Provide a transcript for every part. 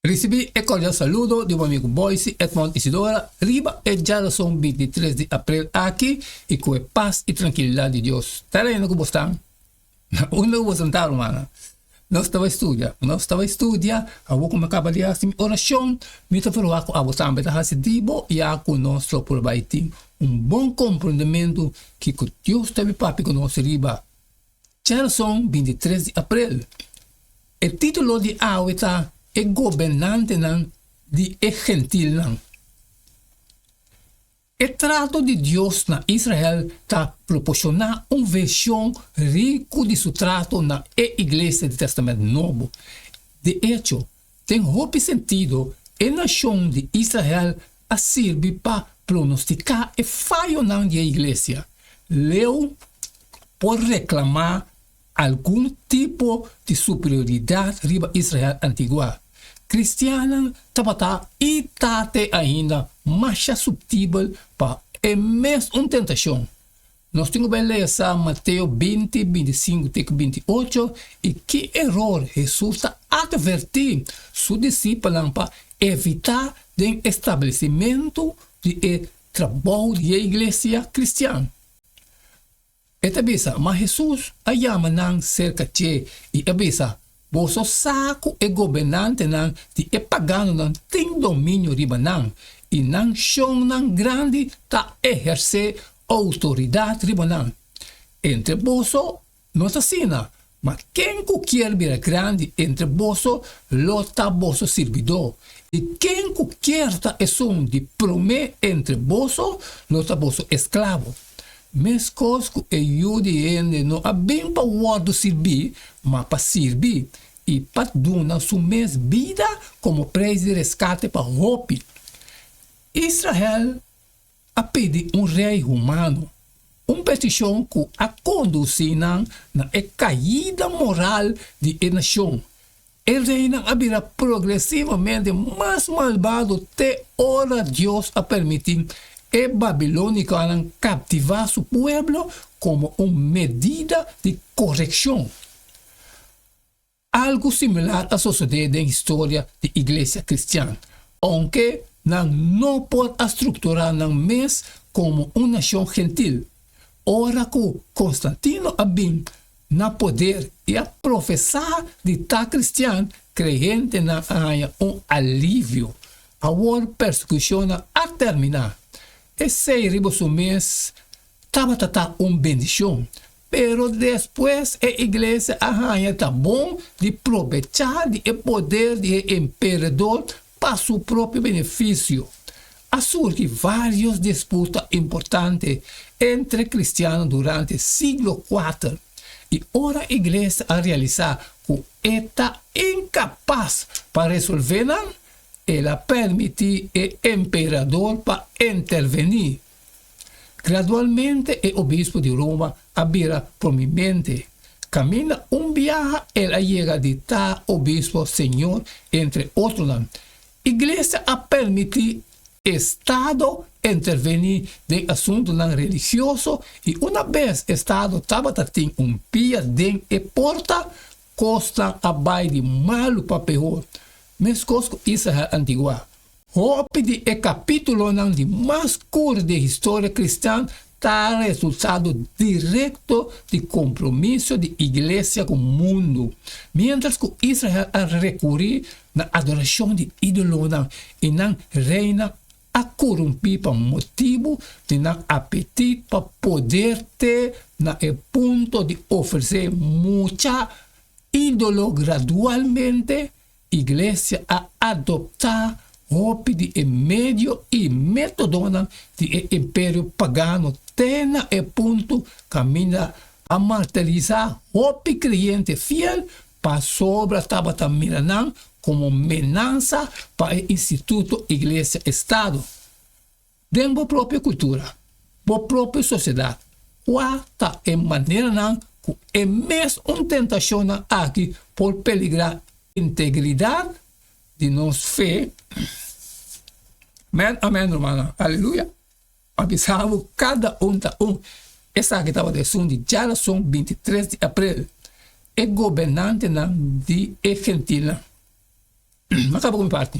Ricibi e cordial saludo di bo amigo Boyce Edmond Isidora riba e djarason bintitres di aprel aki y cu e paz y trankilidad di Dios ta reina cu bos tan. Unda cu bo santa rumana? Nos ta bai studia. Nos ta bai studia, awor cu mi a caba di haci mi oracion mi ta verua cu abo tambe ta haci di bo y a cu nos lo por bai tin un bon comprendementu kico Dios ta bai papia cu nos riba. Chelson, bin di tres di aprel. E titulo di awe ta E Gobernantenan di e Gentilnan. E trato di Dios na Israel ta proporshona un vershon riku di su trato na e iglesia di Tèstamènt Nobo. De echo, Den hopi sentido, e nashon di Israel a sirbi pa pronostiká e fayonan di e iglesia. Leu por reklamá algun tipo di superioridat riba Israel antigua. Kristiannan tabata i ta te ainda masha suptibel pa e mesun tentashon. Nos tin ku bai lesa Mateo binti, binti sinku te ku binti ocho, i ki eror Hesus ta atvertí su disipelnan pa evitá den e stablesimentu di e trabou di e iglesia kristian. E ta bisa, Ma Hesus a yama nan serka dje i a bisa, Boso sa ku e gobernantenan di e paganonan tin dominio riba nan, i nan shonnan grandi ta ehersé outoridat riba nan. Entre boso no es asina, ma ken ku kier bira grandi entre boso lo ta boso sirbidó, i ken ku kier ta esun di promé entre boso lo ta boso esklabo. Meskos ku e Yu di hende no a bin pa wòrdu sirbí, ma pa sirbi, i pa duna su mes bida komo preis di reskate pa hopi. Israel a pidi un rei humano, un petishon ku a kondusí nan na e kaida moral di e nashon. E reinan a bira progresivamente mas malbado te ora Dios a permiti e babiloniconan captiva su pueblo como un medida di coreccion. Algu similar a sucede den historia di Iglesia cristian, aunke nan no por a structura nan mes como un nacion gentil. Ora cu Constantino a bin, na poder i a profesá di ta kristian, krei hendenan a haña un alivio. Awor persekushonnan a terminá. Esei riba su mes tabata ta un bendishon. Pero despues e iglesia a haña ta bon di probechá di e poder di e emperador Pa su propio benefisio, a surgi vários disputa importante entre kristiano durante siglo kuater, i ora Iglesia a realisá ku e ta inkapas pa resolvé nan, el a pèrmití e emperador pa intervení. Gradualmente e obispo di Roma a bira prominente. Caminda un biaha el a yega di ta obispo señor entre otronan. Iglesia a permiti Estado interveni den asuntonan religioso y una bes Estado tabata tin un pia den e porta, cosnan a bay di malo pa pehor. Mescos cu Israel antigua. Hopi di e capítulonan di mas cur di e historia cristian ta resultado directo di compromiso di Iglesia cu mundo. Mientras cu Israel a recuri na adoracion di idolonan y nan reynan a corumpi pa motibu di nan apetit pa poder te na e punto di ofrece mucha idolo gradualmente, Iglesia a adoptá hopi di e medio i métodonan di e imperio pagano te na e puntu kaminda a martirisá hopi kreyente fiel pasobra tabata mira nan komo menansa pa e instituto iglesia-estado. Den bo propio kultura, bo propio sosiedat, kua ta e maneranan ku e mes un tentashonnan aki por peligrá integridat di nos fe? Amèn, amèn, rumannan. Aleluya! A bisa bo kada un ta un, esaki tabata esun di djarason binti tres di aprel. E gobernantenan di e gentilnan. M'a kaba ku mi parti.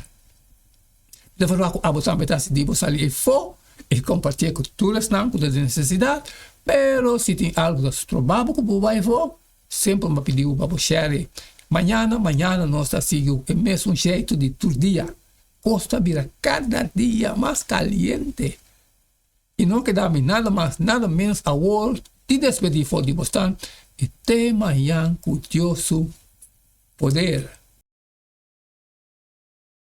Mi ta fala ku abo tambe ta hasi di bo sali efó i kompartié ku tur esnan ku ta den nesesidat, pero si tin algu ku ta stroba bo ku bo bai efó, semper bo m'a pidi bo pa bo shèri. Mañana, mañana nos ta sigui e mesun sheitu di tur dia. Kos ta bira kada dia mas kaliente. y no keda mi nada mas nada menos awor di despedí for di bosnan y tee mañan ku Dios su poder.